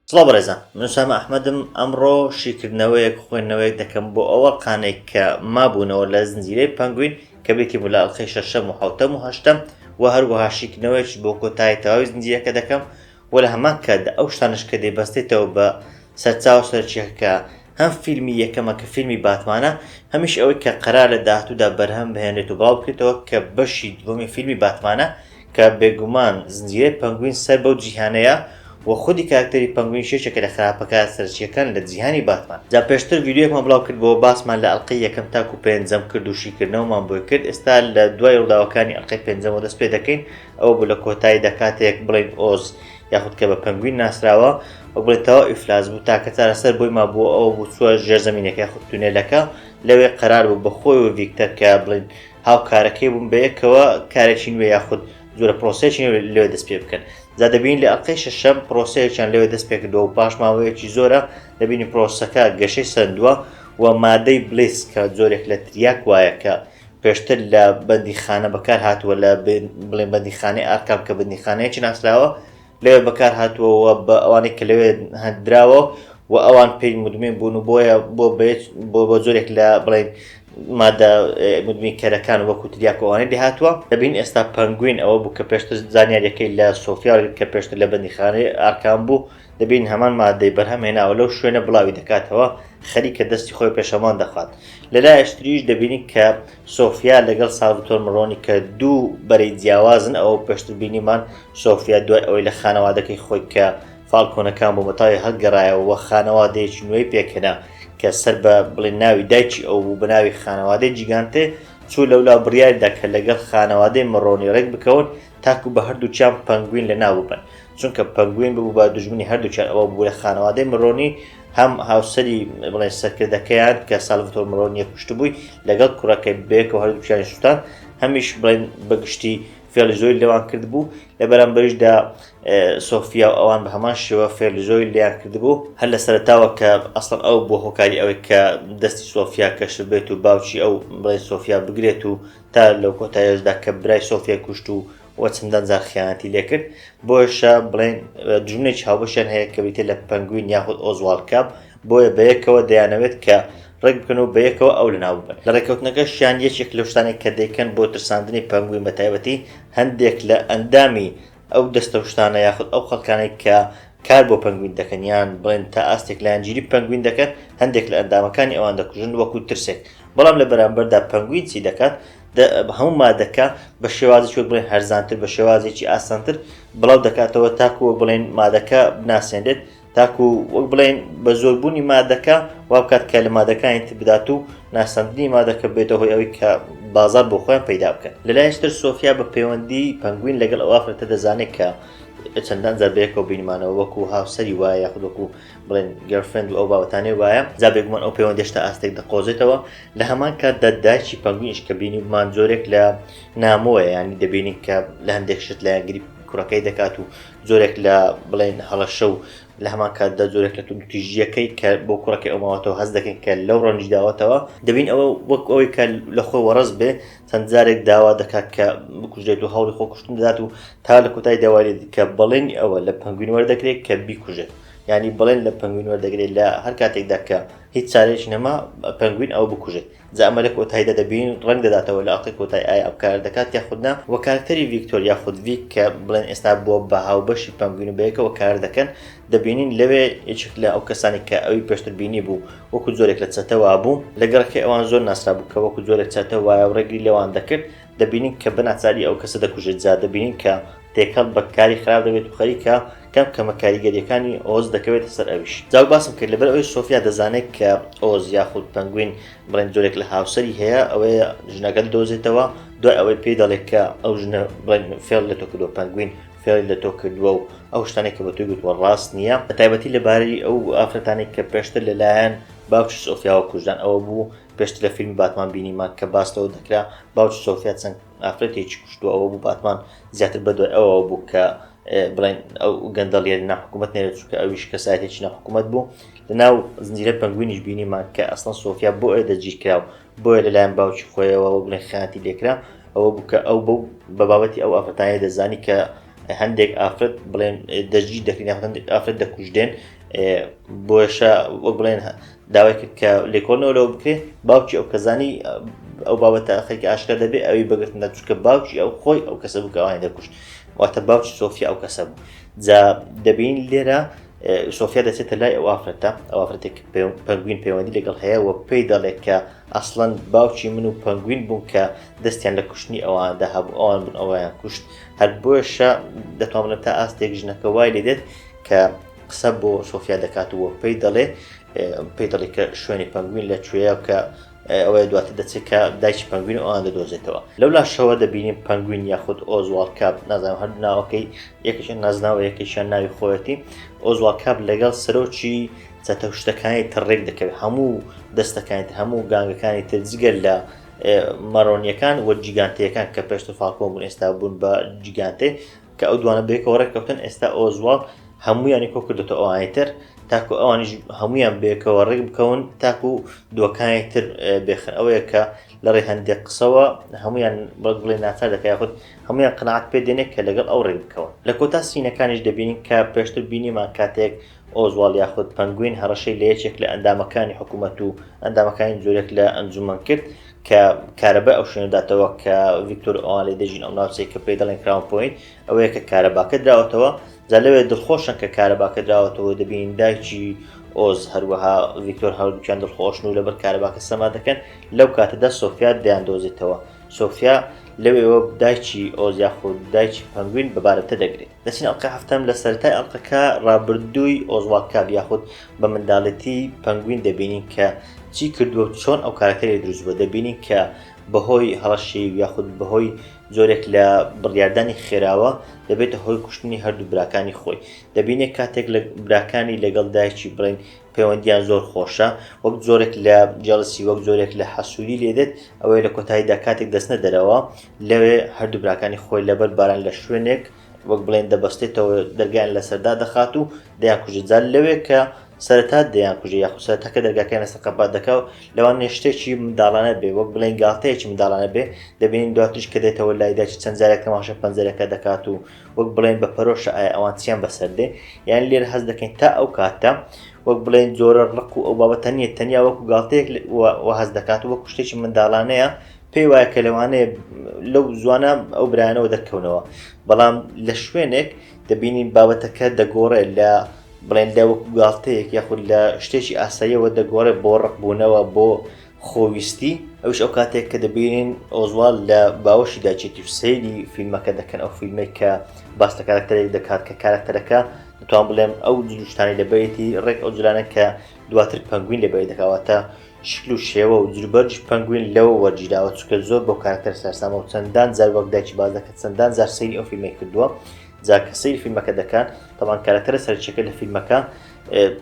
سڵاو بەڕێزان من سامە ئەحمەدم ئەمڕۆ شیکردنەوەیەک خوێندنەوەیەک دەکەم بۆ ئەوە قانێک کە مابوونەوە لە زنجیرەی پەنگوین کە بێتی بوو لە ئەڵقەی شەشەم و حوتەم و هەشتەم و هەروەها شیکردنەوەیش بۆ کۆتایی تەواوی زنجیرەکە دەکەم وە لە هەمان کاتدا ئەو شتانەش کە دەیبەستێتەوە بە سەرچاوە سەرەکییەکە کە هەم فیلمی یەکەمە کە فیلمی باتمانە هەمیش ئەوەی کە قەرارە لە داهاتوودا بەرهەم بهێنرێت و بڵاو بکرێتەوە کە بەشی دووەمی فیلمی باتمانە کە بێگومان زنجیرەی پەنگوین سەر بەو جیهانەیە وە خودی کارەکتەری پەنگوینیش یەکێکە لە خراپەکارە سەرەکییەکان لە جیهانی باتمان. جا پێشتر ڤیدیۆیەکمان بڵاو کردبۆوە باسمان لە ئەڵقەی یەکەم تاکو پێنجەم کرد و شیکردنەوەمان بۆی کرد ئێستا لە دوای ڕووداوەکانی ئەڵقەی پێنجەمەوە دەست پێ دەکەین، ئەوە بوو لە کۆتاییدا کاتێک بڵێن ئۆز یاخود کە بە پەنگوین ناسراوە وەک بڵێ تەوا ئیفلاس بوو تاکە چارەسەر بۆی ما بووە ئەوە بوو چووە ژێر زمینەکەی خود تونێلەکە لەوێ قەرار بوو بە خۆی و ڤیکتەر کە بڵین هاوکارەکەی بوون بەیەکەوە کارێکی نوێ یاخود جورە پرۆسێکی لێ دەست پێ بکەن جا دەبین لە ئەڵلقەی شەشەم پرۆسەیەکیان لەوێ دەست پێکردەوە و پاش ماوەیەکی زۆرە دەبینی پرۆسەکە گەشەی سندووە و مادەی بلیس کە زۆرێک لە تریاک وایە کە پێشتر لە بەندیخانە بەکارهاتووە لە بڵێن بەندیخانەی ئارکام کە بەندیخانەیەکی ناسراوە لەوێ بەکارهاتووەوە بە ئەوانەی کە لەوێ هەندراوە و ئەوان پێی مدمین بوون و بۆیە بۆ بۆ بۆ جۆرێک لە بڵێن مادە مدمین کەرەکان وەکو تریاکۆوانەی لێهاتووە دەبین ئێستا پەنگوین ئەوە بوو کە پێشتر زانیاریەکەی لە سۆفیاگرت کە پێشتر لە بەندیخانەی ئارکان بوو دەبین هەمان ماددەی بەرهەم هێناوە لەو شوێنە بڵاوی دەکاتەوە خەریکە دەستی خۆی پێشەمان دەخات لە لایشتریش دەبینین کە سۆفیا لەگەڵ ساڵڤتۆر مڕۆنی کە دوو بەرەی جیاوازن ئەوە پێشتر بینیمان سۆفیا دوای ئەوەی لە خانەوادەکەی خۆی کە فالکۆنەکان بۆ مەتاوی هەڵگەڕایەوە خانەوادەیەکی نوێی پێکەنا کە سەر بە بڵێ ناوی دایکی ئەو بوو بەناوی خانەوادەی جیگانتێ چوو لەولا بڕیاریدا کە لەگەڵ خانەوادەی مڕۆنی ڕێک بکەون تاکو بە هەردووکیان پەنگوین لە ناو ببەن چونکە پەنگوین ببوو بە دژمنی هەردووکیان ئەوە بوو لە خانەوادەی مرۆنی هەم هاوسەری بڵێ سەرکردەکەیان کە سالڤتۆر مرۆنیە کوشتبووی لەگەڵ کوڕەکەی بێکەوە هەردووکیانی سووتان هەمیش بڵێن بەگشتی فێڵی زۆی لەوان کرد بوو لە بەرامبەریشدا سۆفیا و ئەوان بە هەمان شێوە فێلی زۆی لیان کردبوو هەر لە سەرتاوە کە ئەسڵەن ئەو بۆ هۆکاری ئەوەی کە دەستی سۆفیا کەشبێت و باوکی ئەو بڵێ سۆفیا بگرێت و تا لەو کۆتاییەشدا کە برای سۆفیای کوشت و و چەندان جار خیانەتی لێکرد بۆیشە بڵێن دژمنێکی هاوبەشیان هەیە کە بریتە لە پەنگوین یاخود ئۆزوال کاپ بۆیە بەیەکەوە دەیانەوێت کە ڕێک بکەن و بەیەکەوە ئەو لەناو ببەن لە ڕێککەوتنەکەشیان یەکێک لەو شتانێک کە دەیکەن بۆ ترساندنی پەنگوین بە تایبەتی هەندێک لە ئەندامی ئەو دەستە و شتانە یاخود ئەو خەڵکانەی کە کار بۆ پەنگوین دەکەن یان بڵێن تا ئاستێک لایەنگیری پەنگوین دەکەن، هەندێک لە ئەندامەکانی ئەوان دەکوژن وەکو ترسێک، بەڵام لە بەرامبەردا پەنگوین چی دەکات؟ هەموو مادەکە بە شێوازێکی وەک بڵێن هەرزانتر، بە شێوازێکی ئاسانتر بڵاو دەکاتەوە تاکو وەک بڵێن مادەکە بناسێنرێت، تاکو وەک بڵێین بە زۆربوونی مادەکە وا بکات کە لە مادەکانی تر بدات و ناسەندنی مادەکە بێتە هۆی ئەوی کە بازار بۆ خۆیان پەیدا بکەن لەلایشتر سۆفیا بە پەیوەندی پەنگوین لەگەڵ ئەو ئافرەتە دەزانێت کە چەندان جار بەیەکەوە بینمانەوە وەکو هاوسەری وایە یاخود وەکو بڵێن گەرفند و ئەو باوتانێ وایە جا بێگومان ئەو پەیوەندێشتا ئاستێک دەقۆزێتەوە لە هەمان کاتدا دایکی پەنگوینش کە بینی بمان جۆرێک لە نامۆیە ینی دەبینین کە لە هەندێک شت لایەنگری کوڕەکەی دەکات و جۆرێک لە بڵێن هەڵەشە و لە هەمان کاتدا جۆرێک لە توندتیژیەکەی کە بۆ کوڕەکەی ئەو ماوەتەوە هەست دەکەین کە لەو ڕەنج داوەتەوە دەبین ئەوە وەک ئەوەی کە لە خۆی وەڕز بێ چەند جارێک داوا دەکات کە بکوژێت و هەوڵی خۆکوشتن دەدات و تا لە کۆتای داوای کە بەڵێنی ئەوە لە پنگوین وەردەگرێت کە بیکوژێت ینی بڵێن لە پنگوین وەردەگرێت لە هەر کاتێکدا کە هیچ چارێکی نەما پنگوین ئەو بکوژێت جا ئەمە لە کۆتاییدا دەبین ڕەنگ دەداتەوە لە ئەڵقەی کۆتایی ئایا ئەو کارە دەکات یاخود نا وە کارەکتەری ڤیکتۆر یاخود ڤیک کە بڵێن ئێستا بووە بە هاوبەشی پەنگوین و بەیەکەوە کار دەکەن دەبینین لەوێ یەکێک لە ئەو کەسانی کە ئەوی پێشتر بینی بوو وەکو جۆرێک لە چەتەوا بوو لە گەڕەکەی ئەوان زۆر ناسرابوو کە وەکو جۆرێک چەتە وایە و ڕێگری لەوان دەکرد دەبینین کە بەناچاری ئەو کەسە دەکوژێت جا دەبینین کە تێکەڵ بە کاری خراپ دەبێت و خەریکە کەم کەمە کاریگەریەکانی ئۆز دەکەوێتە سەر ئەویش جاو باسم کرد لەبەر ئەوەی سۆفیا دەزانێت کە ئۆز یاخود پەنگوین بڵێن جۆرێک لە هاوسەری هەیە ئەوەی ژنەکە دۆزێتەوە دوای ئەوەی پێی دەڵێت کە ئەو ژنە بڵێن فێڵ لە تۆ کردو پەنگوین فێڵی لە تۆ کردووە و ئەو شتانێک کە بە توی گوتوە ڕاست نییە بە تایبەتی لەبارەی ئەو ئافرەتانێک کە پێشتر لەلایەن باوکی سۆفیاوە کوژدان ئەوە بوو پێشتر لە فیلمی باتمان بینیمان کە باس لەوە دەکرا باوکی سۆفیا چەند ئافرەتێکی کوشتووە ئەوە بوو باتمان زیاتر بەدوای ئەوەوە بوو کە بڵێن ئەو گەندەڵیە لە ناحکوومەت نێرە چووکە ئەویش کەسایەتێکی ناحکوومەت بوو لە ناو زنجیرە پەنگوینیش بینیمان کە ئەسڵەن سۆفیا بۆ ئێدە گیرکرا و بۆیە لەلایەن باوکی خۆیەوە بڵێن خیانەتی لێکرا ئەوە بوو کە ئەو بەو بە بابەتی ئەو ئافرەتانە دەزانی کە هەندێک ئافرەت بڵێن دەژی دەکرین هەندێک ئافرەت دەکوژدێن بۆشە وەک بڵێن داوای کرد کە لێکۆڵنەوە لەوە بکرێت باوکی ئەو کەزانی ئەو بابەتە خەریکە ئاشکرا دەبێت ئەوی بەگرتنە چکە باوکی ئەو خۆی ئەو کەسە بووکەوانی دەکوشت واتە باوکی سۆفیا ئەو کەسە بوو جا دەبین لێرە سۆفیا دەچێتە لای ئەو ئافرەتە ئەو ئافرەتێک پەنگوین پەیوەندی لەگەڵ هەیە و پێی دەڵێت کە ئەسڵەن باوکی من و پەنگوین بوون کە دەستیان لە کوشتنی ئەواندا هەبوو ئەوان بوون ئەویان کوشت هەر بۆشە دەتوانە تا ئاستێک ژنەکە وای لێ دێت کە قسە بۆ سۆفیا دەکات و پێی دەڵێ پێی دەڵێ کە شوێنی پەنگوین لە کوێە کە ئەوەیە دواتر دەچێت کە دایکی پەنگوین ئەوان دەدۆزێتەوە لەو لاشەوە دەبینین پەنگوین یاخود ئۆزوال کاپ نازانم هەر ناوەکەی یەکەشە نازناوە یەکەشیان ناوی خۆەتی ئۆزوال کاپ لەگەڵ سەرۆکی چەتە شتەکانی تڕێک دەکەوێت هەموو دەستەکانی تر هەموو گانگەکانی تر جگەل لە مەرۆنیەکان وە جیگانتەکان کە پێشتە فاکۆ بوون ئێستا بوون بە جیگانتێ کە ئەو دوانە بەیەکەوە ڕێککەوتن ئێستا ئۆزواڵد هەموویانی کۆکردێتە ئەوانی تر تاکو ئەوانیش هەمویان بێکەوە ڕێک بکەون تاکو دووەکانی تر بێخن ئەوەیە کە لە ڕێ هەندێک قسەوە هەمویان بەڵک بڵێ ناچار دەکای خودت هەمویان قناعات پێ دێنێک کە لەگەڵ ئەو ڕێک بکەون لە کۆتا سینەکانیش دەبینین کە پێشتر بینیمان کاتێک ئۆزواڵد یاخود پەنگوین هەڕەشەی لە یەکێک لە ئەندامەکانی حکوومەت و ئەندامەکانی جۆرێک لە ئەنجوومەن کرد کە کارەبای ئەو شوێنە داتەوە کە ڤیکتۆر ئەوان لێ دەژین ئەو ناوچەی کە پێی دەڵێن کراون پۆینت ئەوەیە کە کارەباکە دراوەتەوە جا لەوێ دڵخۆشن کە کارەباکە دراوەتەوە دەبین دایکی ئۆز هەروەها ڤیکتۆر هەردووکیان دڵخۆشن و لەبەر کارەباکە سەما دەکەن لەو کاتەدا سۆفیا دەیاندۆزێتەوە سۆفیا لەوێەوە دایکی ئۆز یاخود دایکی پەنگوین بەبارەتە دەگرێت دەچینە ئەڵقەی هەفتەم لە سەرەتای ئەڵقەکە ڕابردووی ئۆزواڵد کاب یاخود بە منداڵێتی پەنگوین دەبینین کە چی کردووە و چۆن ئەو کارەکتەری دروست بووە دەبینین کە بەهۆی هەڕەشی یاخود بەهۆی جۆرێک لە بڕیاردانی خێراوە دەبێتە هۆی کوشتنی هەردوو براکانی خۆی دەبینێت کاتێک لە براکانی لەگەڵ دایکی بڵین پەیوەندیان زۆر خۆشە وەک جۆرێک لە جەڵسی وەک جۆرێک لە حەسووری لێدێت ئەوەیە لە کۆتاییدا کاتێک دەستنە دەرەوە لەوێ هەردوو براکانی خۆی لەبەر باران لە شوێنێک وەک بڵێن دەبەستێتەوە دەرگیان لە سەردا دەخات و دەیان کوژێت جار لەوێ کە سەرەتا دەیان کوژێ یاخوسە تەکە دەرگاکەیان لەسەر قەپات دەکا و لەوان نێشتێکی منداڵانە بێ وەک بڵێن گاڵتەیەکی منداڵانە بێ دەبینین دواتریش کە دێتەوە لایداچ چەند جارێک تەماشە پەنجەرەکە دەکات و وەک بڵێن بە پەرۆشە ئایا ئەوان چیان بەسەر دێ یان لێر هەز دەکەین تا ئەو کاتە وەک بڵێن جۆرە ڕق و ئەو بابەتە نیە تەنیا وەکو گاڵتەیەک هەز دەکات وەکو شتێکی منداڵانەیە پێی وایە کە لەوانەیە لەو زوانە ئەو برایانەوە دەرکەونەوە بەڵام لە شوێنێک دەبینین بابەتەکە دەگۆڕێت لە بڵێن لە وەکو گاڵتەیەک یاخود لە شتێکی ئاساییەوە دەگۆڕێت بۆ ڕقبوونەوە بۆ خۆویستی ئەوش ئەو کاتێک کە دەبینین ئۆزوال لە باوەشی داچێتی و سەیری فیلمەکە دەکەن ئەو فیلمێک کە باس لە کارکتەرێک دەکات کە کارکتەرەکە دەتوان بڵێم ئەو جلوشتانی لەبەیەتی ڕێک ئەو جلانە کە دواتر پەنگوین لەبەی دەکەواتە شکل و شێوە و جلوبەرگی پەنگوین لەوە وەرگیراوە چونکە زۆر بەو کارەکتەرە سەرسامە و چەندان جار وەک دایکی باس دەکات چەندان جار سەیری ئەو فیلمەی کردووە جا کە سەیری فیلمەکە دەکات تەمان کارەکتەرە سەرچەکە لە فیلمەکە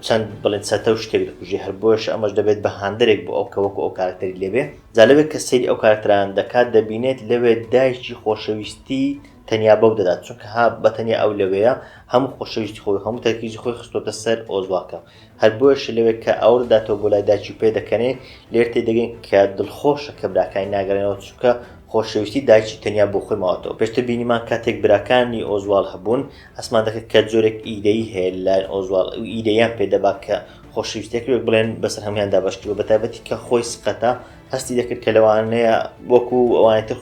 چەند بڵێن چەتە و شتێک دەکوژێ هەر بۆش ئەمەش دەبێت بە هاندەرێک بۆ ئەو کە وەکو ئەو کارکتەری لێبێ جا لەوێت کە سەیری ئەو کارکتەران دەکات دەبینێت لەوێت دایکی خۆشەویستی تەنیا بەو دەدات چونکە ها بەتەنیا ئەو لەوەیە هەموو خۆشەویستی خۆی هەموو تەرکیزی خۆی خستۆتە سەر ئۆزواکە هەر بۆیەشە لەوێ کە ئاور دەداتەوە بۆ لای دایکی و پێدەکەنێ، لێر تێدەگەین کە دڵخۆشە کە براکانی ناگەڕێنەوە، چونکە خۆشەویستی دایکی تەنیا بۆ خۆی ماوەتەوە. پێشتر بینیمان کاتێک براکانی ئۆزواڵ هەبوون، ئەسمان دەکرد کە جۆرێک ئیدەیی هەیە لەلایەن ئۆزواڵ، ئەو ئیدەییان پێ دەبا کە خۆشەویستییەک وەک بڵێن بەسەر هەموویان دابەش کردووە، بەتایبەتی کە خۆی سقەتە، هەستی دەکرد کە لەوانەیە وەکوو ئەوانی تر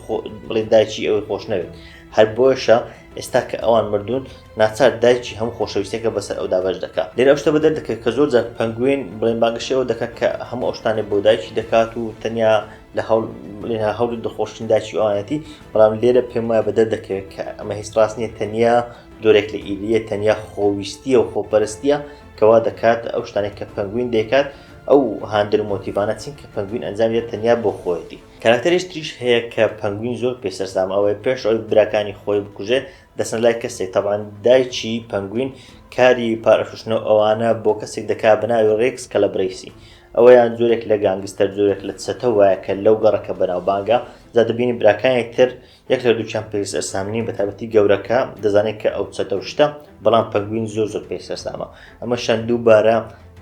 بڵێن دایکی ئەوی خۆش نەوێت. هەر بۆیەشە ئێستا کە ئەوان مردوون، ناچار دایکی هەموو خۆشەویستیەکە بەسەر ئەودا بەش دەکا لێرە ئەو شتە بە دەردەکەوێت کە زۆر جار پەنگوین بڵێن بانگەشەی ئەوە دەکات کە هەموو ئەو شتانێ بۆ دایکی دەکات و تەنیا لە هەوڵ لێنا هەوڵی دڵخۆشتن دایکی ئەوانەتی بەڵام لێرە پێم وایە بە دەردەکەوێت کە ئەمە هیچ ڕاست نییە تەنیا جۆرێک لە ئیدە تەنیا خۆویستیە و خۆپەرستیە کەوا دەکات ئەو شتانێک کە پەنگوین دەکات ئەو هاندر مۆتیبانە چین کە پەنگوین ئەنجام دێت تەنیا بۆ خۆیەتی کاراکتەرێش تریش هەیە کە پەنگوین زۆر پێ سەرسام ئەوەیە پێش ئەوی براکانی خۆی بکوژێ دەچنە لای کەسێک تەبعەن دایکی پەنگوین کاری پارەفروشتنەو ئەوانە بۆ کەسێک دەکات بەناوی ڕێکس کەلەبرەیسی ئەوەیان جۆرێک لە گانگستەر جۆرێک لە چەتە وایە کە لەو گەڕە کە بەناوبانگە جا دەبینی براکانی تر یەک لە دووکیان پێ سەرسامنی بەتابەتی گەورەکە دەزانێت کە ئەو چەتەو شتە بەڵام پەنگوین زۆر زۆر پێ سەرسامە ئەمە شان دووبارە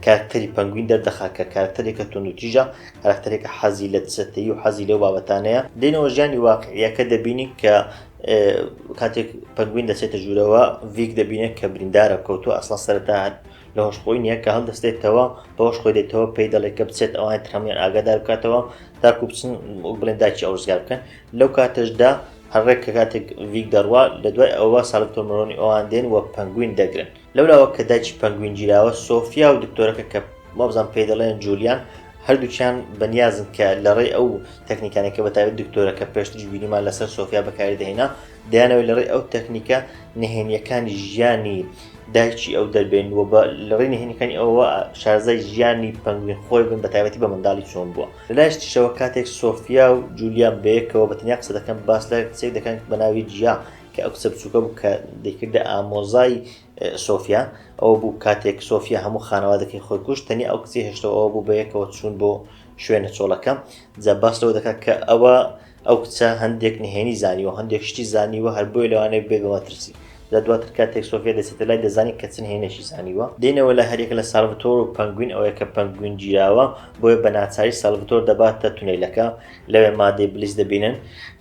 کارکتەری پەنگوین دەردەخا کە کارکتەرێکە تونوتیژە کارکتەرێکە حەزی لە چەتەی و حەزی لەو بابەتانەیە دێنەوە ژیانی واقعیەکە دەبینین کە کاتێک پەنگوین دەچێتە ژوورەوە ڤیک دەبینێت کە بریندارە کەوتو ئەسڵا سەرتا هەر لە هۆشخۆی نیە کە هەڵدەستێتەوە بەهۆش خۆی دێتەوە پێی دەڵێت کە بچێت ئەوان ترەمیان ئاگادار بکاتەوە تاکو بچن بڵێن داکی ئەو ڕزگار بکەن لەو کاتەشدا هەڕێک کە کاتێک ڤیک دەڕوا لە دوای ئەوە ساڵکتۆمەرۆنی ئەوان دێن وە پەنگوین دەگرن لەولاوە کە دایکی پەنگوین گیراوە، سۆفیا و دکتۆرەکە کە وابزانم پێی دەڵێن جولیان، هەردووکیان بەنیازن کە لەڕێی ئەو تەکنیکانەی کە بەتایبەت دکتۆرەکە پێشتریش بینیمان لەسەر سۆفیا بەکاری دەهێنا، دەیانەوێت لەڕێی ئەو تەکنیکە نهێنییەکانی ژیانی دایکی ئەو دەربێن و بە لەڕێی نهێنیەکانی ئەوە شارەزای ژیانی پەنگوین خۆی بن بەتایبەتی بە منداڵی چۆن بووە. لەلایش تریشەوە کاتێک سۆفیا و جولیان بەیەکەوە بەتەنیا قسە دەکەن باس لە کچێک دەکەن بەناوی جیا کە ئەو کچە بچووکە بوو کە دەیکردە ئامۆزای سۆفیا، ئەوە بوو کاتێک سۆفیا هەموو خانەوادەکەی خۆی کوشت، تەنیا ئەو کچی هێشتەوە ئەوە بوو بەیەکەوە چوون بۆ شوێنە چۆڵەکە، جا باس لەوە دەکات کە ئەوە ئەو کچە هەندێک نهێنی زانیوە هەندێک شتی زانیوە هەر بۆیە لەوانەیە بێت بە مەترسی. جا دواتر کاتێک سۆفیا دەچێتە لای دەزانین کە چ نهێنێکی زانیوە. دێنەوە لای هەریەکە لە سالڤتۆر و پەنگوین ئەوەیە کە پەنگوین گیراوە بۆیە بە ناچاری سالڤتۆر دەباتە تونێلەکە، لەوێ مادەی بلیس دەبینن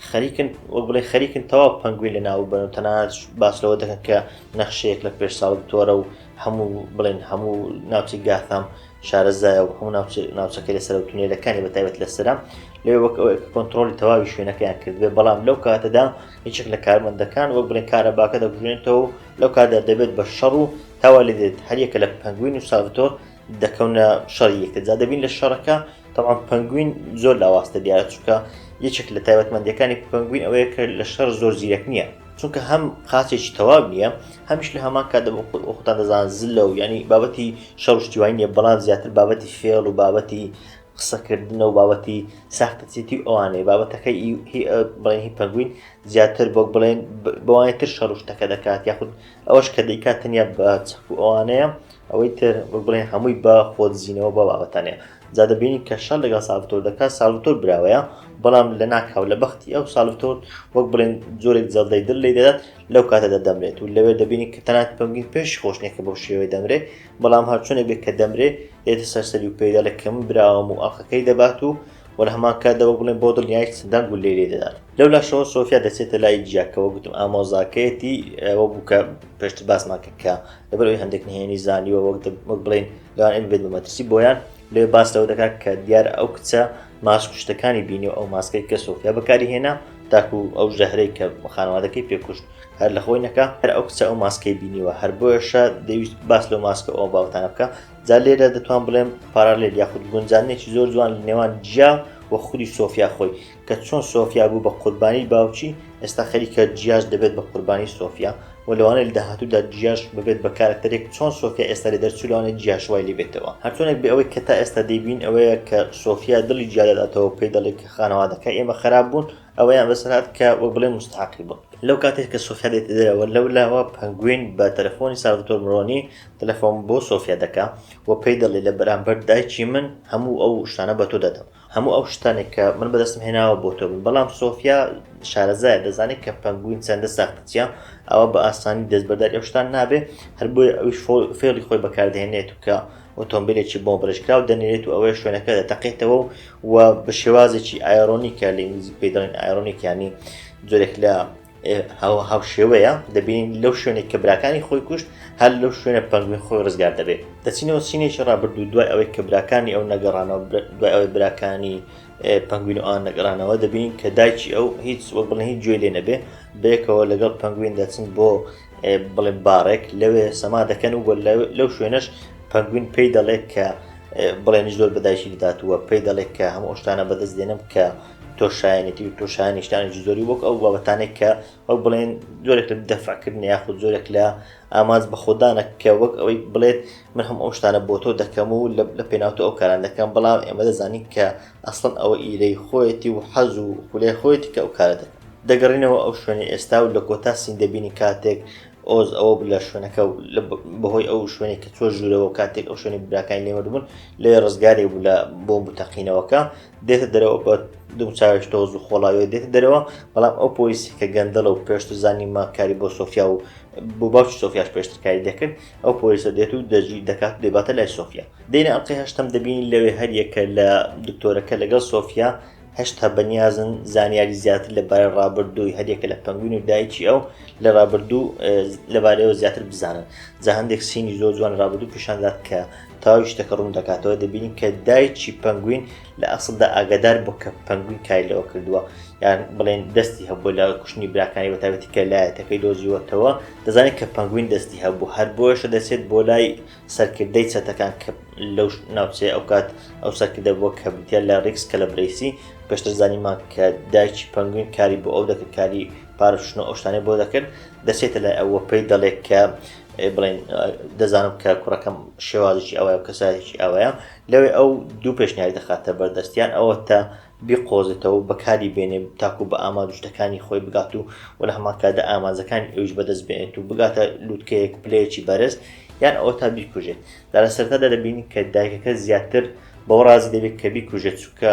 خەریکن وەک بڵێ خەریکن تەواو پەنگوین لە ناو بن و تەنانەت باس لەوە دەکەن کە نەخشەیەک لە پێش ساڵ تۆرە و هەموو بڵێن هەموو ناوچی گاثام شارەزایە و هەموو ناوچەکە لە سەرەوە تونێلەکانی بە تایبەت لە سرە لێ وەک کۆنتترۆلی تەواوی شوێنەکەیان کردبێ بەڵام لەو کاتەدا هیچێک لە کارمەندەکان وەک بڵێن کارە باکە دەگوێنێتەوە لەو کاتدا دەبێت بە شەڕ و تاوا لێ دێت هەریەکە لە پەنگوین و ساڤتۆر دەکەونە شەڕی یەکتر جا دەبین لە شەڕەکە تەوان پەنگوین زۆر لاواستە دیارە چکە یەکێک لە تایبەتمەندەکانی پەنگوین ئەوەیە کە لە شەر زۆر زیرەک نییە چونکە هەم قاچێکی تەواو نییە هەمیش لە هەمان کات خۆتان دەزان زلە و ینی بابەتی شەڕشتیوانی نیە بەڵام زیاتر بابەتی فێڵ و بابەتی قسەکردنە و بابەتی ساختەچێتی و ئەوانەی بابەتەکە بڵێنی پەنگوین زیاتر بۆ بڵێن بەوانێتر شەڕشتەکە دەکات یاخود ئەوەش کە دەیکات تەنیا بە چەک و ئەوانەیە ئەوەی تر وەک بڵێ هەمووی بە خۆدزینەوە بە بابەتانەیە جا دەبینین کە شەر لەگەڵ ساڵتۆر دەکات ساڵتۆر براوەیە بەڵام لە ناکاو لە بەختی ئەو ساڵتۆر وەک بڵێن جۆرێک جەڵدەی دل لی دەدات لەو کاتە دەدەمرێت و لەوێ دەبینی کە تەنات پەمگین پێش خۆشنێکە بەو شێوەی دەمرێ بەڵام هەرچۆنێک بێت کە دەمرێ دێتە سەرسەری و پێدا لە کەم براوەم و ئەڵلقەکەی دەبات و وە لە هەمان کات دەوە بڵێن بۆ دڵنیای دەنگ و لێ لێ دەدات لەو لاشەوە سۆفیا دەچێتە لای جیاکەوە گوتم ئامۆزاکەیەتی ئەوە بووکە پێشتر باسمان کرد کە لەبەر ئەوەی هەندێک نهێنی زانیوە وەک وەک بڵین لەوان ئەم بێت بە مەترسی بۆیان لێ باس لەوە دەکات کە دیار ئەو کچە ماش پشتەکانی بینی و ئەو ماسکەی کە سۆفیا بەکاری هێنا تاکو ئەو ژەهرەی کە خانەوادەکەی پێکوشت هەر لە خۆی نەکە هەر ئەو کچە ئەو ماسکەی بینیوە هەر بۆیشە دەویست باس لەو ماسکە ئەو باوتانە بکە جا لێرە دەتوان بڵێم پارالێل یاخود گونجانێکی زۆر جوان لە نێوان جیا و خودی سۆفیا خۆی کە چۆن سۆفیا بوو بە قوربانی باوکی ئێستا خەریکە جیاش دەبێت بە قوربانی سۆفیا و لەوانەیە لە داهاتوودا جیاش ببێت بە کارەکتەرێک چۆن سۆفیا ئێستا لێ دەرچوو لەوانەیە جیاش وای لێ بێتەوە هەرچۆنێک بێ ئەوەی کە تا ئێستا دەیبین ئەوەیە کە سۆفیا دڵی جیا دەداتەوە پێی دەڵێت کە خانەوادەکە ئێمە خراپ بوون ئەوەیان بەسەر هات کە وەک بڵێن مستحقی بوون لەو کاتێک کە سۆفیا دێتە دەرەوە لەو لاوە پەنگوین بە تەلەفۆنی سالڤتۆر مرۆنی تەلەفۆن بۆ سۆفیا دەکا و پێی دەڵێ لە بەرامبەر دایکی من هەموو ئەو شتانە بە تۆ دەدەم هەموو ئەو شتانێک کە من بەدەستم هێناوە بۆ تۆ بن بەڵام سۆفیا شارەزایە دەزانێت کە پەنگوین چەندە ساختەچیە ئەوە بە ئاسانی دەستبەرداری ئەو شتان نابێ هەر بۆی ئەوش فێڵی خۆی بەکاردێنێت و کە ئۆتۆمبیلێکی بۆ برشکراو دەنێرێت و ئەوەیە شوێنەکە دەتەقێتەوە و بە شێوازێکی ئایرۆنیکە لە ئینگلیزی پێدەڵین ئایرۆنیکیانی جۆرێک لە هەوە هاوشێوەیە دەبین لەو شوێنێک کە براکانی خۆی کوشت هەر لەو شوێنە پەنگوین خۆی ڕزگار دەبێت دەچینەوە سینێکی ڕابردوو دوای ئەوەی کە براکانی ئەو نەگەڕانەوە دوای ئەوەی براکانی پەنگوین و ئان نەگەڕانەوە دەبین کە دایکی ئەو هیچ وە بڵێ هیچ گوێ لێ نەبێ بەیەکەوە لەگەڵ پەنگوین دەچن بۆ بڵێ بارێک لەوێ سەما دەکەن و لەو شوێنەش پەنگوین پێی دەڵێت کە بڵێنی زۆر بەدایکی دەداتوە پێی دەڵێت کە هەموو شتانە بەدەست دێنم کە تۆ شایەنێتی و تۆ شایانی شتانێکی زۆری وەک ئەو بابەتانێک کە وەک بڵێن زۆرێک لە دەفعکردن یاخود زۆرێک لە ئامانج بە خۆدانە کە وەک ئەوەی بڵێت من هەم ئەو شتانە بۆ تۆ دەکەم و لە پێناوتە ئەو کاران دەکەم بەڵام ئێمە دەزانین کە ئەسڵن ئەوە ئیرەی خۆیەتی و حەز و خولای خۆیەتی کە ئەو کارە دەکەن دەگەڕینەوە ئەو شوێنی ئێستا و لە کۆتا سین دەبینی کاتێک ئۆز ئەوە لە شوێنەکە بەهۆی ئەو شوێنێک کە چۆ ژوورەوە کاتێک ئەو شوێنی براکانی لێمەدبوون لێ ڕزگارێک بوو لە بۆم بتەقینەوەکە دێتە دەرەوە بە دوم چاوش تۆز و خۆڵاوێ دێتە دەرەوە بەڵام ئەو پۆلیسی کە گەندەڵە و پێشتر زانیمە کاری بۆ سۆفیا و بۆ باوچ سۆفیاش پێشتکاری دەکرد ئەو پۆلیسە دێت و دەجی دەکات دەباتە لای سۆفیا دێنە ئەڵلقی هەشتم دەبین لەوێ هەریەکە لە دکتۆرەکە لەگەڵ سۆفیا هەشتا بەنیازن زانیاری زیاتر لەبارە ڕابردووی هەریەکە لە پەنگوین و دایکی ئەو لە ڕابردوو لەبارەوە زیاتر بزانن جا هەندێک سینی زۆر جوان ڕابردوو پیشاندات کە تەواوی شتەکە ڕوون دەکاتەوە دەبینین کە دایکی پەنگوین لە ئەسڵدا ئاگادار بوو کە پەنگوین کاری لەوە کردووە یان بڵێن دەستی هەبوو لە کوشتنی براکانی بە تاوێتی کە لایەتەکەی دۆزیوەتەوە دەزانێت کە پەنگوین دەستی هەبوو هەر بۆیشە دەچێت بۆ لای سەرکردەی چەتەکان کە لەو ناوچەیە ئەو کات ئەو سەرکردە بووە کە بریتە لە ڕیکس کە لە برەیسی پێشتر زانیمان کە دایکی پەنگوین کاری بۆ ئەو دەکرد کاری پارشتن و ئەوشتانەی بۆ دەکرد دەچێتە لای ئەوە پێی دەڵێت کە بڵێن دەزانم کە کوڕەکەم شێوازێکی ئەوەیە و کەسایەکی ئەوەیە لەوێ ئەو دوو پێشنیاری دەخاتە بەردەستیان ئەوە تا بیقۆزێتەوە بەکاری بێنێ تاکو بە ئامادوشتەکانی خۆی بگات و و لە هەمانکاتدا ئامانزەکانی ئەوش بەدەست بێنێت و بگاتە لووتکەیەک پلەیەکی بەرز یان ئەوە تا بیکوژێت دا لە سەرتادا دەبینی کە دایکەکە زیاتر بەو ڕازی دەبێت کە بیکوژێت چووکە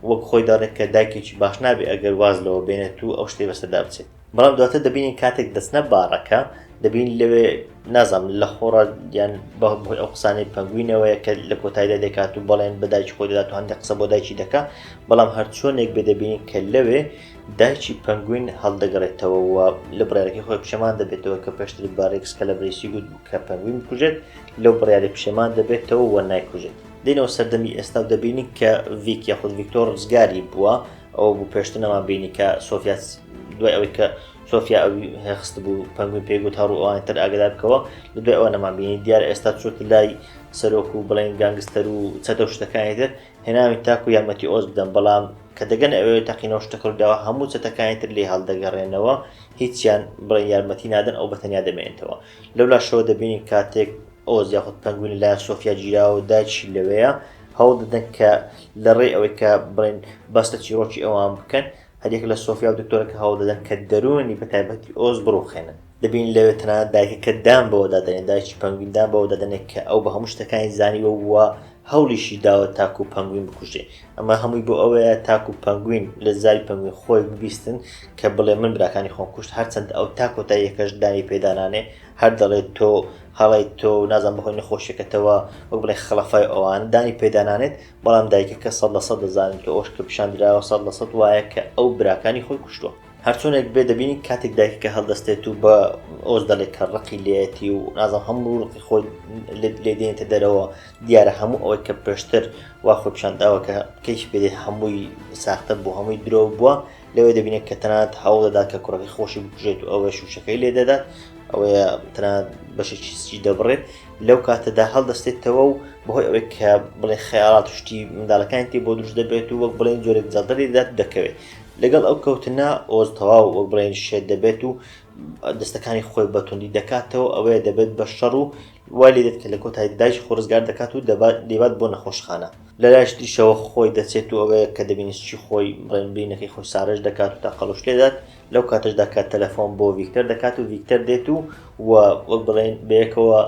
وەک خۆی دەڕێت کە دایکێکی باش نابێت ئەگەر واز لەوە بێنێت و ئەو شتێ بەسەردا بچێت بەڵام دواتر دەبینین کاتێک دەستنە باڕەکە دەبین لەوێ نازانم لە خۆڕە یان بەهۆی ئەو قسانەی پەنگوینەوەیە کە لە کۆتایدا دەکات و بەڵێن بە دایکی خۆی دەدات و هەندێک قسە بۆ دایکی دەکا بەڵام هەرچۆنێک بێ دەبینین کە لەوێ دایکی پەنگوین هەڵدەگەڕێتەوە و لە بڕارەکەی خۆی پشەمان دەبێتەوە کە پێشتر بارێکس کە لە برێسی گوت کە پەنگوین بکوژێت لەو بڕیاری پشێمان دەبێتەوە و نایکوژێت دێنەوە سەردەمی ئێستا و دەبینین کە ڤیک یاخود ڤیکتۆر ڕزگاری بووە ئەوە بوو پێشتر نەمان بینی کە سۆفیا دوای ئەوەی کە سۆفیا ئەوی هەخست بوو پەنگوی پێگوت هەڕوو ئەوان تر ئاگدار بکەوە لە دوای ئەوە نەمان بینی دیار ئێستا چۆت لای سەرۆک و بڵێن گەنگستەر و چەتە و شتەکانی تر هێناوی تاکو یارمەتی ئۆز بدەم بەڵام کە دەگەن ئەوێ تەقینەوە شتەکردەوە هەموو چەتەکانی تر لێ هەڵدەگەڕێنەوە هیچیان بڵێ یارمەتی نادەن ئەو بەتەنیا دەمێنێتەوە لەولا شەوە دەبینین کاتێک ئەو زیاخود پەنگوین لە سۆفیا گیراوە داچی لەوەیە هەوڵ دەدەن کە لە ڕێی ئەوەی کە بڵێن بەستە چیرۆکی ئەوان بکەن هەریەک لە سۆفیا و دکتۆرەکە هەوڵ دەدەن کە دەروونی بە تایبەتی ئۆز بڕوخێنن دەبین لەوێ تەنانەت دایکەکە دان بەوەدا دەنێن دایکی پەنگویندان بەوە دەدەنێت کە ئەو بە هەموو شتەکانی زانیوە وە هەوڵیشی داوە تاکو پەنگوین بکوژێ ئەمە هەمووی بۆ ئەوەیە تاکو پەنگوین لە زاری پەنگوین خۆی ببیستن کە بڵێ من براکانی خۆم کوشت هەرچەند ئەو تا کۆتاییەکەش دانی پێدانانێ هەر دەڵێت تۆ هەڵەیت تۆ نازانم بەهۆی نەخۆشیەکەتەوە وەک بڵێ خڵەفای ئەوان دانی پێدانانێت بەڵام دایکەکە سەد لە سەد دەزانێت کە ئەوش کە پیشان دراوە سەد لە سەد وایە کە ئەو براکانی خۆی کوشتووە هەرچۆنێک بێ دەبینی کاتێک دایکەکە هەڵدەستێت و بە ئۆز دەڵێت کە ڕقی لێتی و نازم هەموو ڕقی خۆی لێدێنێتە دەرەوە دیارە هەموو ئەوەی کە پێشتر وا خۆپشانداوە کە کەیش بێت هەمووی ساختە بۆ هەمووی درۆ بووە لەوێ دەبینێت کە تەنات هەوڵ دەدات کە کوڕەکەی خۆشی بکوژێت و ئەوەش شوشەکەی لێ دەدات ئەوەیە تەنات بەشێکی سچی دەبڕێت لەو کاتەدا هەڵدەستێتەوە و بەهۆی ئەوەی کە بڵێ خەیاڵات شتی منداڵەکانی تێ بۆ دروست دەبێت و وەک بڵێن جۆرێک جەڵدەری دەدات دەکەوێت لەگەڵ ئەو کەوتنە ئۆز تەواو وەک بڵێن شێت دەبێت و دەستەکانی خۆی بەتوندی دەکاتەوە ئەوەیە دەبێت بە شەڕ و وای لێ دێت کە لە کۆتای دایش خۆ ڕزگار دەکات و دەبات دەبات بۆ نەخۆشخانە لە لایشی تریشەوە خۆی دەچێت و ئەوەیە کە دەبینی سچی خۆی ڕێنبرینەکەی خۆی سارێژ دەکات و تەقەڵوش لێدات لەو کاتەشدا کە تەلەفۆن بۆ ڤیکتەر دەکات و ڤیکتەر دێت و وەک بڵێن بەیەکەوە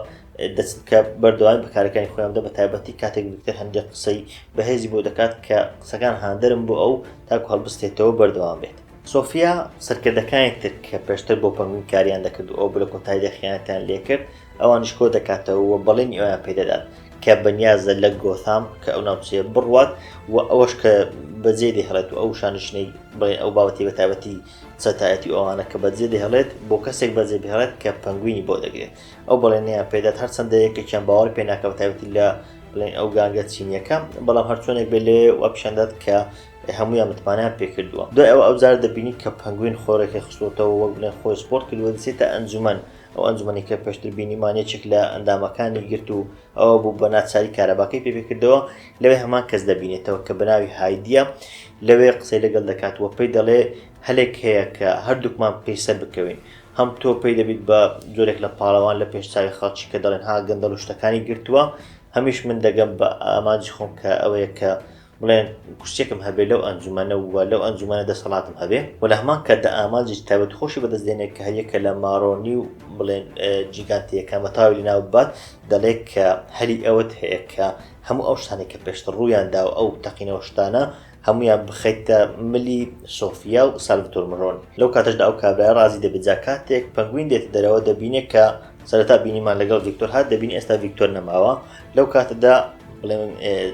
دەچن کە بەردەوام بەکارەکانی خۆیان دە بە تایبەتی کاتێک ڤیکتەر هەندێک قسەی بەهێزی بۆ دەکات کە قسەکان هاندەرم بۆ ئەو تاکو هەڵبستێتەوە بەردەوام بێت سۆفیا سەرکردەکانی تر کە پێشتر بۆ پەنگوین کاریان دەکرد و ئەو بلە کۆتایدا خیانەتیان لێکرد ئەوانیش کۆ دەکاتەوە و بەڵێنی ئەویان پێ دەدات کە بەنیازە لە گۆثام کە ئەو ناوچەیە بڕوات و ئەوەش کە بەجێ دەهێڵێت و ئەو شانشینەی بڵێ ئەو باوەتی بە تایبەتی چەتایەتی ئەوانە کە بەجێ دەهێڵێت بۆ کەسێک بەجێ بهێڵێت کە پەنگوینی بۆ دەگرێت ئەو بەڵێنیان پێدات هەرچەندە یەکێکیان باوەڕ پێ ناکە بە تایبەتی لە بڵێن ئەو گانگە چینیەکە بەڵام هەرچۆنێک بێ لێ و پیشاندات کە هەمویان متمانیان پێکردووە دوای ئەو ئەوجار دەبینی کە پەنگوین خۆرەکە خستوتەوە وەک بڵێن خۆی سپۆرت کردووە دەچێتە ئەنجومەن ئەو ئەنجومەنەی کە پێشتر بینیمان یەکێک لە ئەندامەکانی گرت و ئەوە بوو بە ناچاری کارەباکەی پێ پێکردەوە لەوێ هەمان کەس دەبینێتەوە کە بەناوی هایدیە لەوێ قسەی لەگەڵ دەکات وە پێی دەڵێ هەلێک هەیە کە هەردووکمان پێی سەر بکەوین هەم تۆ پێی دەبیت بە جۆرێک لە پاڵەوان لە پێشچوی خەڵکی کە دەڵێن ها گەندەڵ و شتەکانی گرتووە هەمیش من دەگەم بە ئامانجی خۆم کە ئەوەیە کە بڵێن کورسیەکم هەبێ لەو ئەنجومەنە و لەو ئەنجومەنە دەسەڵاتم هەبێ و لە هەمان کاتدا ئامانجێکی تایبەت خۆشی بەدەست دێنێت کە هەریەکە لە مارۆنی و بڵێن جیگانتیەکە مەتاوی لە ناو بات دەڵێت کە هەلی ئەوەت هەیە کە هەموو ئەو شتانی کە پێشتر ڕوویاندا و ئەو تەقینەوە شتانە هەمویان بخەیتە ملی سۆفیا و سالڤتۆر مرۆن لەو کاتەشدا ئەو کابرای ڕازی دەبێت جا کاتێک پەنگوین دێتە دەرەوە دەبینێت کە سەرەتا بینیمان لەگەڵ ڤیکتۆر هات دەبین ئێستا ڤیکتۆر نەماوە لەو کاتەدا بڵێم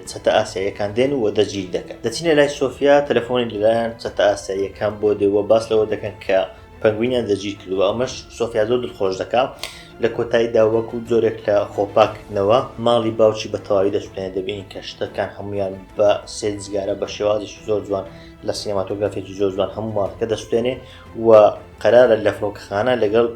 چەتە ئاسیایەکان دێن و دەجیل دەکەن دەچینە لای سۆفیا تەلەفۆنی لەلایەن چەتە ئاسیایەکان بۆ دێوە باس لەوە دەکەن کە پەنگوینیان دەجیر کردوە ئەمەش سۆفیا زۆر دڵخۆش دەکا لە کۆتاییدا وەک و جۆرێک لە خۆپاکردنەوە ماڵی باوکی بە تەواوی دەستێنێ دەبین کە شتەکان هەمویان بە سێزگارە بە شێوازی زۆر جوان لە سینماتۆگرافێکی زۆر جوان هەموو ماڵەکە دەستێنێ و قەرارە لە فڕۆکەخانە لەگەڵ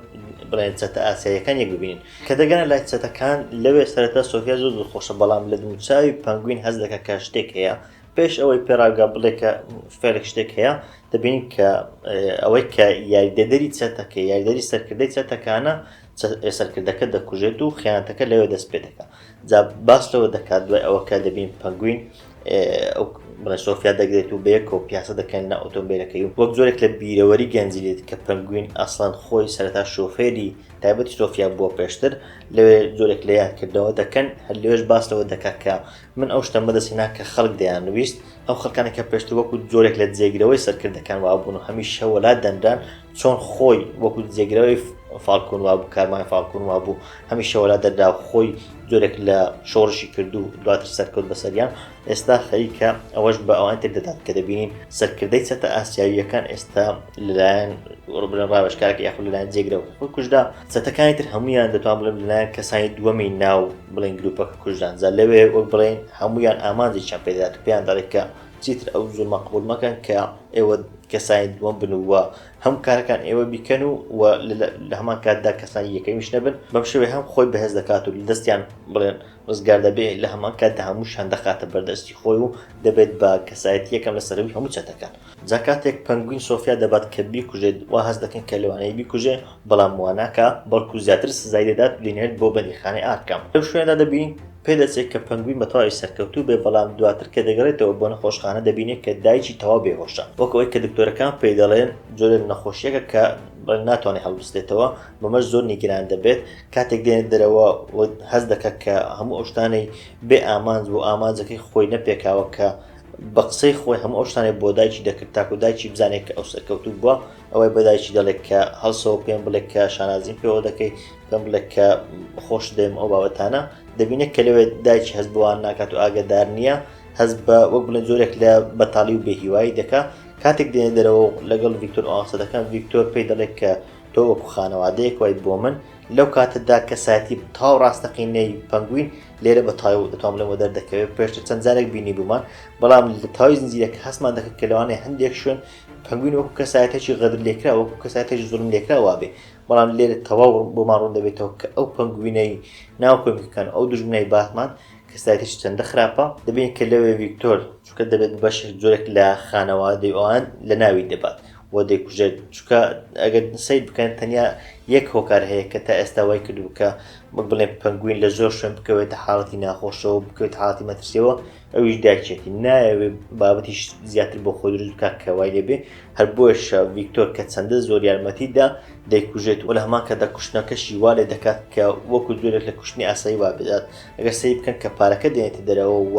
بڵێن چەتە ئاسیاییەکان یەک ببینن کە دەگەنە لای چەتەکان لەوێ سەرەتا سۆفیا زۆر دڵخۆشە بەڵام لە دووچاوی پەنگوین هەست دەکات کە شتێک هەیە پێش ئەوەی پێڕاگا بڵێ کە فێرێک شتێک هەیە دەبین کە ئەوەی کە یاریدەدەری چەتەکە یاریدەری سەرکردەی چەتەکانە چە سەرکردەکە دەکوژێت و خیانەتەکە لەوێ دەست پێ دەکات جا باس لەوە دەکات دوای ئەوەکە دەبین پەنگوین ئەو بڵێ سۆفیا دەگرێت و بەیەکۆ پیاسە دەکەن لە ئۆتۆمبیلەکەی و وەک زۆرێک لە بیرەوەری گەنجی لێت کە پەنگوین ئەسڵان خۆی سەرەتا شۆفێری تایبەتی سۆفیا بووە پێشتر لەوێ زۆرێک لە یادکردەوە دەکەن هەر لەوێش باس لەوە دەکات کە من ئەو شتە مەدەسینا کە خەڵک دەیان نوویست ئەو خەکانێکە پێشتر وەکو زۆرێک لە جێگرەوەی سەرکردەکان وابوون و هەمیش شەوەلا دەنران چۆن خۆی وەکو جێگرەوەی فالکون وابوو کارمای فالکون وابوو هەمیشە وەلا دەردا خۆی جۆرێک لە شۆڕشی کردو دواتر سەرکەوت بەسەریان ئێستا خەریکە ئەوەش بە ئەوان تر دەدات کە دەبینین سەرکردەی چەتە ئاسیاویەکان ئێستا لەلایەن ڕبرە ڕاوێشکارەکە یاخود لەلایەن جێگرەوە خۆی کوژدا چەتەکانی تر هەمویان دەتوان بڵێن لەلایەن کەسانی دووەمی ناو بڵین گروپەکە کوژدان جا لەوێ وەک بڵێن هەمویان ئامانجێکیان پێدەدات پێیان دەڵێت کە چیتر ئەو زوڵمە قبول مەکەن کە ئێوە کەسانی دووەم بن و هەم کارەکان ئێوە بیکەن و لە هەمان کاتدا کەسانی یەکەمیش نەبن بەم شێوێ هەم خۆی بەهێز دەکات و لە دەستیان بڵێن ڕزگار دەبێ لە هەمان کاتدا هەموو شان دەخاتە بەردەستی خۆی و دەبێت بە کەسایەت یەکەم لە سەرەوی هەموو چەتەکان جاکاتێک پەنگوین سۆفیا دەبات کە بیکوژێت وا هەست دەکەن کە لەوانەیە بیکوژێ بەڵام وا ناکا، بەڵکو زیاتر سزای دەدات و دەینێرێت بۆ بەندیخانەی ئارکام. لەو شوێنەدا دەبینین پێدەچێت کە پەنگوین بەتەواوی سەرکەوتوو بێت، بەڵام دواتر کە دەگەڕێتەوە بۆ نەخۆشخانە دەبینێت کە دایکی تەواو بێهۆشە، وەک ئەوەی کە دکتۆرەکان پێی دەڵێن جۆرێک لە نەخۆشییەکە کە ناتوانێت هەڵبستێتەوە، بەمەش زۆر نیگەران دەبێت، کاتێک دێنێت دەرەوە و هەست دەکات کە هەموو ئەو شتانەی بێ ئامانج بوو، ئامانجەکەی خۆی نەپێکاوە کە بە قسەی خۆی هەموو ئەو شتانەی بۆ دایکی دەکرد تاکو دایکی بزانێت کە ئەو سەرکەوتوو بووە، ئەوەی بە دایکی دەڵێک کە هەڵسەوە پێم بڵێک کە شانازیم پێوە دەکەی پێم بڵێک کە خۆش دەیم ئەو بابەتانە دەبینێت کە لەوێت دایکی هەز بووان ناکات و ئاگدار نییە هەز بە وەک بڵێن زۆرێک لە بەتاڵی و بێهیوایی دەکا کاتێک دێنێ دەرەوە لەگەڵ ڤیکتۆر ئەوانسە دەکەم ڤیکتۆر پێی دەڵێت کە تۆ وەکو خانەوادەیەک وای بۆ من لەو کاتەدا کەسایەتی تاو ڕاستەقینەی پەنگوین لێرە بە تای و دەتوان لەمە دەردەکەوێت پێشتر چەند جارێک بینی بوومان بەڵام لە تاوی زنجیرەکە هەستمان دەکرد کە لەوانێ هەندێک شوێن پەنگوین وەکو کەسایەتێکی غەدرلێکراو وەکو کەسایەتێکی زوڵملێکراو وا بێ، بەڵام لێرە تەواو بۆمان ڕوون دەبێتەوە کە ئەو پەنگوینەی ناو کۆمیکەکان و ئەو دوژمنەی باتمان کەسایەتێکی چەندە خراپە، دەبینین کە لەوێ ڤیکتۆر چونکە دەبێت بەشێک جۆرێک لە خانەوادەی ئەوان لەناوی دەبات و دەیکوژێت، چونکە ئەگەر سەیر بکەن تەنیا یەک هۆکار هەیە کە تا ئێستا وای کردووە کە وەک بڵێن پەنگوین لە زۆر شوێن بکەوێتە حاڵەتی ناخۆشەوە و بکەوێتە حاڵەتی مەترسییەوە، ئەویش دایکێتی نایەوێ بابەتیش زیاتر بۆ خۆی دروست بکات کە وای لێبێ هەر بۆیشە ڤیکتۆر کە چەندە زۆر یارمەتیدا دەیکوژێت و لە هەمان کە دەکوشتنەکەشی وا لێ دەکات کە وەکو جۆرێک لە کوشتنی ئاسایی وا بدات ئەگەر سەی بکەن کە پارەکە دێنێتە دەرەوە و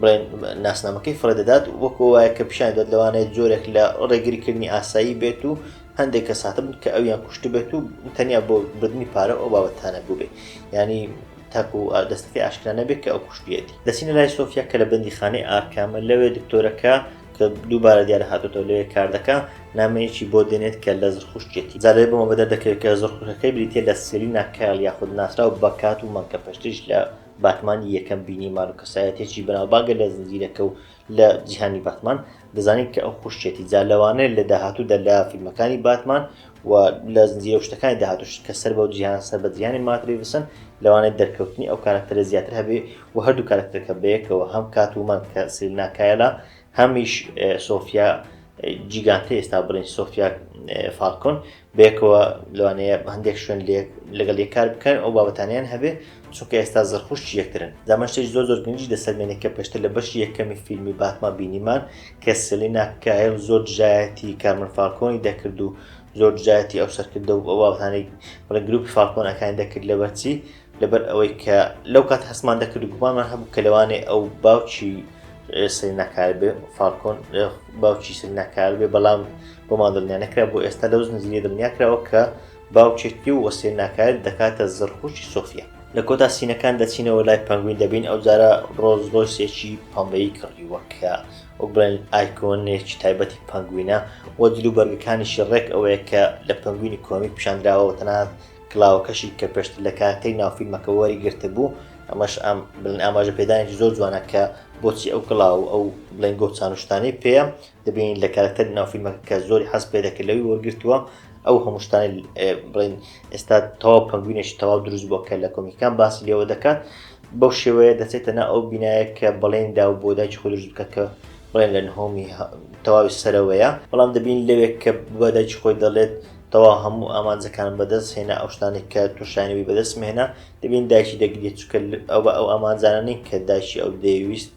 بڵێن ناسنامەکەی فڕێ دەدات وەکو وایە کە پیشان دەت لەوانەیە جۆرێک لە ڕێگریکردنی ئاسایی بێت و هەندێک کە ساتبن کە ئەویان کوشت بێت و تەنیا بۆ بردننی پارە ئەو بابەتانە بووبێ ینی تاکو دەستەکەی ئاشکرا نەبێت کە ئەو کوشتیەتی دەچینە لای سۆفیا کە لە بەندیخانەی ئارکامە لەوێ دکتۆرەکە کە دووبارە دیارە هاتوتەوە لەوێ کاردەکە نامەیەکی بۆ دێنێت کە لە زرخشتێتی زارێ بۆمە بەدە دەکرێت کە زرخەکەی بریتە لە سێری ناکایل یاخود ناسراو بەکات و مەکە پشتیش لە باتمان یەکەم بینیمان و کەسایەتێکی بەناوبانگە لە زنجیرەکە و لە جیهانی باتمان دەزانین کە ئەو خوشتێتی جا لەوانەیە لە داهاتوودا لە فیلمەکانی باتمان و لە زنجیرە شتەکانی داهاتوش کە سەر بەو جیهان سەر بە جیهانی ماتریوسن لەوانەیە دەرکەوتنی ئەو کارکتەرە زیاتر هەبێ و هەردوو کارکتەرەکە بەیەکەوە هەم کات ومان کە سلناکایەلا هەمیش سۆفیا جیگانتە ئێستا بڵین سۆفیا فالکۆن بەیەکەوە لەوانەیە هەندێک شوێن لێک لەگەڵ یە کار بکەن ئەو بابەتانیان هەبێ چونکە ئێستا زرخوشت یەکترن دامەشتێک زۆر زۆر گەنجی لەسەر مێنێک کە پێشتر لە بەشی یەکەمی فیلمی باتما بینیمان کە سلینا کایل زۆر دژایەتی کارمن فالکۆنی دەکرد و زۆر دژایەتی ئەو سەرکردە و ئەوانەی بڵێ گروپی فالکۆنەکانی دەکرد لەبەرچی لەبەر ئەوەی کە لەو کات هەستمان دەکرد گومانمان هەبوو کە لەوانێ ئەو باوکی سریناکار بێ فالکۆن باوکی سریناکار بێ بەڵام بۆمان دڵنیا نەکرا بۆ ئێستا لەو زنجیرە دڵنیا کراوە کە باوکێتی و وەسێ ناکار دەکاتە زڕخوشی سۆفیا لە کۆتا سینەکان دەچینەوە لای پەنگوین دەبین ئەو جارە ڕۆزلۆسێکی پەمبەی کڕیوە کە وەک بڵێن ئایکۆنێکی تایبەتی پەنگوینە وە جلو بەرگەکانیشی ڕێک ئەوەیە کە لە پەنگوینی کۆمی پیشاندراوە تەنات کلاوەکەشی کە پێشتر لە کارەکتەری ناو فیلمەکە وەری گرتبوو ئەمەش ئام بڵێن ئاماژە پێدانێکی زۆر جوانە کە بۆچی ئەو کلااو و ئەو بڵێن گۆ چانوشتانەی پێە دەبین لە کارەکتەری ناو فیلمەکە کە زۆری حەز پێ دەکرد لەوی وەرگرتووە ئەو هەمووشتانی بڵین ئێستا تەواو پنگوینێکی تەواو دروست بۆ کە لە کۆمیکان باسی لێوە دەکات بەو شێوەیە دەچێتە نا ئەو بینایە کە بەڵێن دا و بۆداکی خۆ دروست بکە کە بڵێن لە نهۆمی تەواوی سەرەوەیە بەڵام دەبین لەوێک کە بەداکی خۆی دەڵێت تەواو هەموو ئامانجەکانم بەدەست هێنا ئەو شتانەی کە تۆشیانەوی بەدەستم هێنا دەبین دایکی دەگریێت چکە ئەو بە ئەو ئامانجانە نین کە دایکی ئەو دەیویست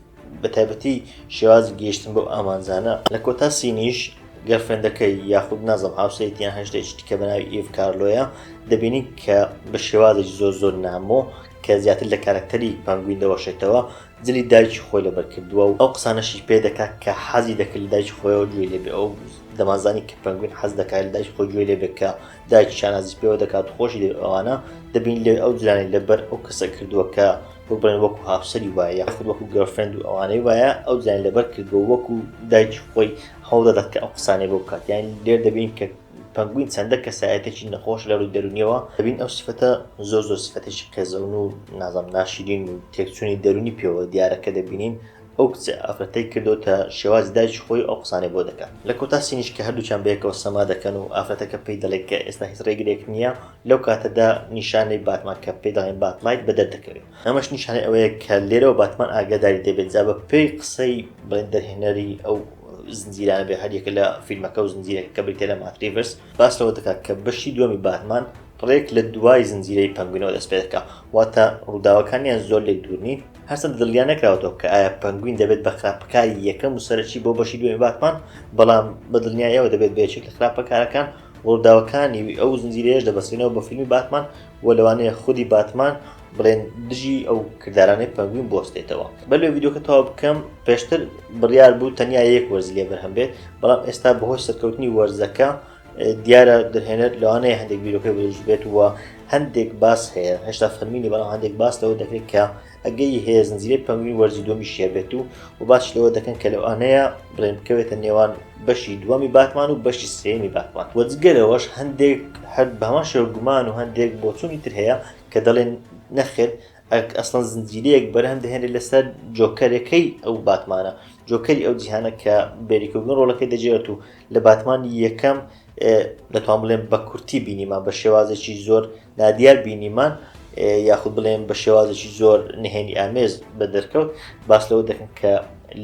بە تایبەتی شێوازی گەیشتن بەو ئامانجانە لە کۆتا سینیش گەرفێندەکەی یاخود نازم هاوسەیتیان هەشتێک کە بەناوی ئیڤ کارلۆیە دەبینی کە بە شێوازێکی زۆر زۆر نامۆ کە زیاتر لە کارکتەری پەنگوین دەوەشێتەوە جلی دایکی خۆی لەبەر کردووە و ئەو قسانەشی پێ دەکات کە حەزی دەکرد لە دایکی خۆیەوە گوێی لێ بێ ئەو دەمانزانی کە پەنگوین حەز دەکات لە دایکی خۆی گوێ لێ بێت کە دایکی شانازی پێوە دەکات و خۆشی دەوێت ئەوانە دەبین لێ ئەو جلانی لەبەر ئەو کەسە کردووە کە وەک بڵێن وەکو هاوسەری وایە یاخود وەکو گەرفرەند و ئەوانەی وایە ئەو جلانی لەبەر کردووە وەکو دایکی خۆی هەوڵ دەدات کە ئەو قسانەی بۆ بکات یان لێر دەبین کە پەنگوین چەندە کەسایەتێکی نەخۆش لەرووی دەرونیەوە دەبین ئەو سفەتە زۆر زۆر سفەتێکی قێزەون و نازم ناشیرین و تێکچوونی دەرونی پێوە دیارە کە دەبینین ئەو کچە ئافرەتەی کردوتە شێواز دایکی خۆی ئەو قسانەی بۆ دەکات لە کۆتا سینیش کە هەردووکیان بەیەکەوە سەما دەکەن و ئافرەتەکە پێی دەڵێت کە ئێستا هیچ ڕێگرێک نییە لەو کاتەدا نیشانەی باتمان کە پێی دەڵێن باتلایت بە دەردەکەوێت ئەمەش نیشانەی ئەوەیە کە لێرەوە باتمان ئاگاداری دەبێت جا بە پێی قسەی بڵێن دەرهێنەری ئەو زنجیرانە بێ هەر یەکە لە فیلمەکە و زنجیرەکە کە بریتە لە ماتریڤرس باس لەوە دەکات کە بەشی دووەمی باتمان ڕێک لە دوای زنجیرەی پەنگوینەوە دەست پێ دەکا واتە ڕووداوەکانیان زۆر لێک دوور نین هەرچەند دڵیان نەکراوەتەوە کە ئایا پەنگوین دەبێت بە خراپەکاری یەکەم و سەرەکی بۆ بەشی دوێ باتمان بەڵام بە دڵنیایەوە دەبێت بێچێک لە خراپەکارەکان ڕووداوەکانی ئەو زنجیرەیەش دەبەستێنەوە بە فیلمی باتمان و لەوانەیە خودی باتمان بڵێن دژی ئەو کردارانەی پەنگوین بۆستێتەوە بە لێ ویددیوکە تەوا بکەم پێشتر بڕیار بوو تەنیا یەک وەرز لێ بەرهەم بێت بەڵام ئێستا بەهۆی سەرکەوتنی وەرزەکە دیارە دەهێنەر لەوانەیە هەندێک بیرۆکەی بەش بێت وە هەندێک باس هەیە هێشتا فەرمینی بەڵام هەندێک باس لەوە دەکرێت کە ئەگەی هەیە زنجیرە پەنگوین وەرزی دومی شێ بێت و و باش لەوە دەکەن کە لەوانەیە بڵێن بکەوێتە نێوان بەشی دووەمی باتمان و بەشی سێمی باتمان وەجگەرەوەش هەندێک هەر بەمان شێوگومان و هەندێک بۆچوونی تر هەیە کە دەڵێن نەخێر ئەک ئەسڵەن زنجیرەیەک بەرهەم دەهێنێت لەسەر جۆکەرەکەی ئەو باتمانە جۆکەری ئەو جیهانە کە بێریکردن ڕۆڵەکەی دەجێت و لە باتمانی یەکەم دەتوان بڵێن بە کورتی بینیمان بە شێوازێکی زۆر نادیار بینیمان یاخود بڵێن بە شێوازێکی زۆر نهێنی ئامێز بە دەرکەوت باس لەوە دەکەن کە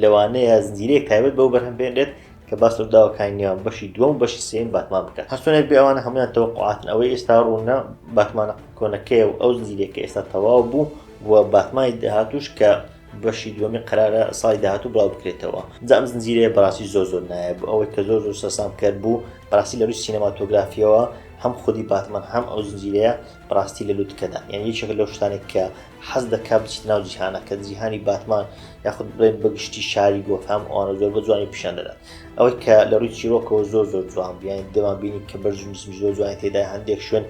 لەوانەیە زنجیرەیەک تایبەت بەو بەرهەم بێنێت کە باس ڕوداوەکانی نێوان بەشی دووەم و بەشی سێیەمی باتمان بکات هەرچۆنێک بێ ئەوانە هەموویان تەوەقوعاتن ئەوەی ئێستا ڕوونە باتمانە کۆنەکەیە و ئەو زنجیرەیە کە ئێستا تەواو بوو و باتمانی داهاتووش کە بەشی دووەمی قەرارە ساڵی داهاتوو بڵاو بکرێتەوە جا ئەم زنجیرەیە بەڕاستی زۆر زۆر نایە بوو ئەوەی کە زۆر زۆر سەرسامکەر بوو بەڕاستی لە ڕووی سینەماتۆگرافیەوە هەم خودی باتمان هەم ئەو زنجیرەیە بەڕاستی لە لوتکەدا یان یەکێکە لەو شتانێک کە حەز دەکات بچیتە ناو جیهانەکە، جیهانی باتمان یاخود بڵێن بە گشتی شاری گۆتهام ئەوانە زۆر بە جوانی پیشان دەدات. ئەوەی کە لە ڕووی چیرۆکەوە زۆر زۆر جوان بوو، یانی دەمان بینی کە بەرز و نزمیش زۆر جوانی تێدایە، هەندێک شوێن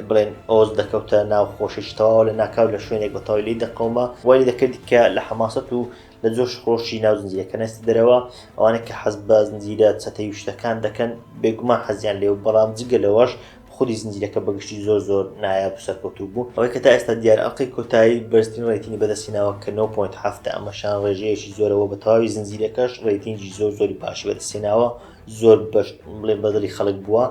بڵێن ئۆز دەکەوتە ناو خۆشێکی تەواوە لە ناکاو لە شوێنێک بە تەواوی لێی دەقەوما، وای لێ دەکردی کە لە حەماسەت و لە جۆش خرۆشی ناو زنجیرەکە نەچێتە دەرەوە، ئەوانەی کە حەز بە زنجیرە چەتەیی و شتەکان دەکەن بێگومان حەزیان لێ بوو، بەڵام جگە لەوەش خودی زنجیرەکە بەگشتی زۆر زۆر نایاب و سەرکەوتوو بوو، ئەوەی کە تا ئێستا دیارە ئەڵقەی کۆتایی بەرزترین رەیتینی بەدەستهیناوە کە نۆ پۆینت حەفتا ئەمە شانڕێژەیەکی زۆرە وە بە تەواوی زنجیرەکەش رەیتینگی زۆر زۆری باشی بەدەستهێناوە زۆر بەش بڵێ بەدڵی خەڵک بووە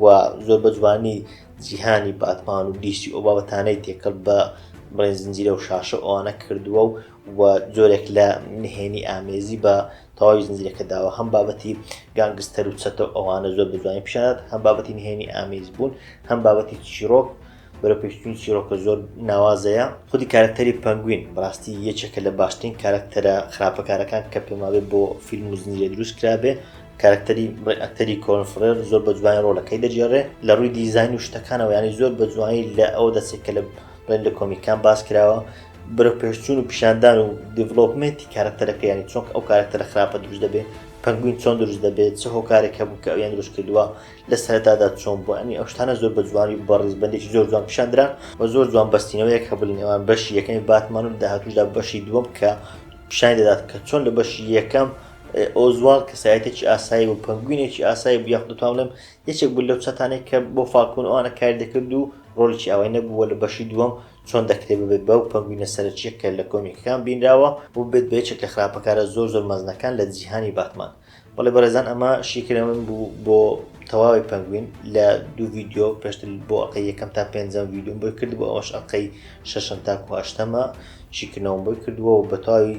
و زۆر بە جوانی جیهانی باتمان و دیسی ئەو بابەتانەی تێکەڵ بە بڵێن زنجیرە و شاشە ئەوانە کردووە و و جۆرێک لە نهێنی ئامێزی بە تەواوی زنجیرەکە داوە هەم بابەتی گانگستەر و چەتە و ئەوانە زۆر بەجوانی پیشانات هەم بابەتی نهێنی ئامیز بوون هەم بابەتی چیرۆک بەرە پێشتنی چیرۆکە زۆر ناوازەیە خودی کارکتەری پەنگوین بڕاستی یەکێکە لە باشترین کارکتەرە خراپەکارەکان کە پێماوێت بۆ فیلم و زنجیرە دروست کرابێ کارکتەری بڕی ئەکتەری کۆنفرێر زۆر بە جوانی ڕۆلەکەی دەجێڕێ لە ڕووی دیزین و شتەکانەوە ینی زۆر بە جوانی لە ئەو دەسێکە لە بەن لە کۆمیکان باس کراوە برە پێشچوون و پیشاندان و دیڤلۆپمنتی کارەکتەرەکە ینی چۆک ئەو کارەکتەرە خراپە دروست دەبێت پنگوین چۆن دروست دەبێت چ هۆکارێک هەبوو کە ئەویان دروست کردووە لە سەرتادا چۆن بۆ ئەنی ئەوشتانە زۆر بە جوانی و بەڕیز بەندێکی زۆر جوان پیشاندرا و زۆر جوان بەستینەوەیەک هەبوو لە نێوان بەشی یەکەمی باتمان و داهاتوشدا بەشی دووەم کە پیشانی دەدات کە چۆن لە بەشی یەکەم ئۆزوال کەسایەتێکی ئاسایی و پنگوینێکی ئاسایی بیاخ دەتوانم یەکێک بوو لەو چەتانەی کە بۆ فالکۆن و ئەوانە کاری دەکرد و ڕۆڵێکی ئاوای نەبوو و لە بەشی دووەم چۆن دەکرێت ببێت بەو پەنگوینە سەرەکییە کە لە کۆمیکەکان بینراوە و ببێت بە یەکێک لە خراپەکارە زۆر زۆر مەزنەکان لە جیهانی باتمان بەڵێ بەڕێزان ئەمە شیکرە من بوو بۆ تەواوی پەنگوین لە دوو ڤیددیو پێشتر بۆ ئەقی یەکەم تا پێنجەم ڤیددیوم بۆی کرد بۆ ئەوەش ئەقەی شەشم تاکو هەشتەمە شیکردنەوەم بۆی کردووە و بەتەواوی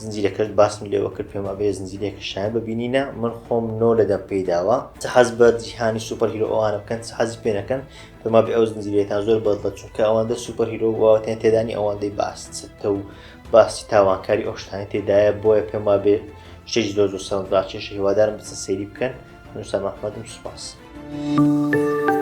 زنجیرەکەشت باسم لێوە کرد پێم وابێ زنجیرێکە شایەن بە بینینە من خۆم نۆ لە دەم پێی داوە چ حەز بە جیهانی سوپەر هیرۆ ئەوانە بکەن چ حەزی پێ نەکەن پێم وابێ ئەو زنجیرێتان زۆر بەدڵە چونکە ئەوەندە سوپەر هیرۆ واوەتیان تێدانی ئەوەندەی باس چتە و باسی تاوانکاری ئەو شتانی تێدایە بۆیە پێم وابێ شتێکی زۆر زۆر سەوند ڕاکێش هیوادارم بچە سەیری بکەن نووسا مەحمەدم سوپاس. Thank you.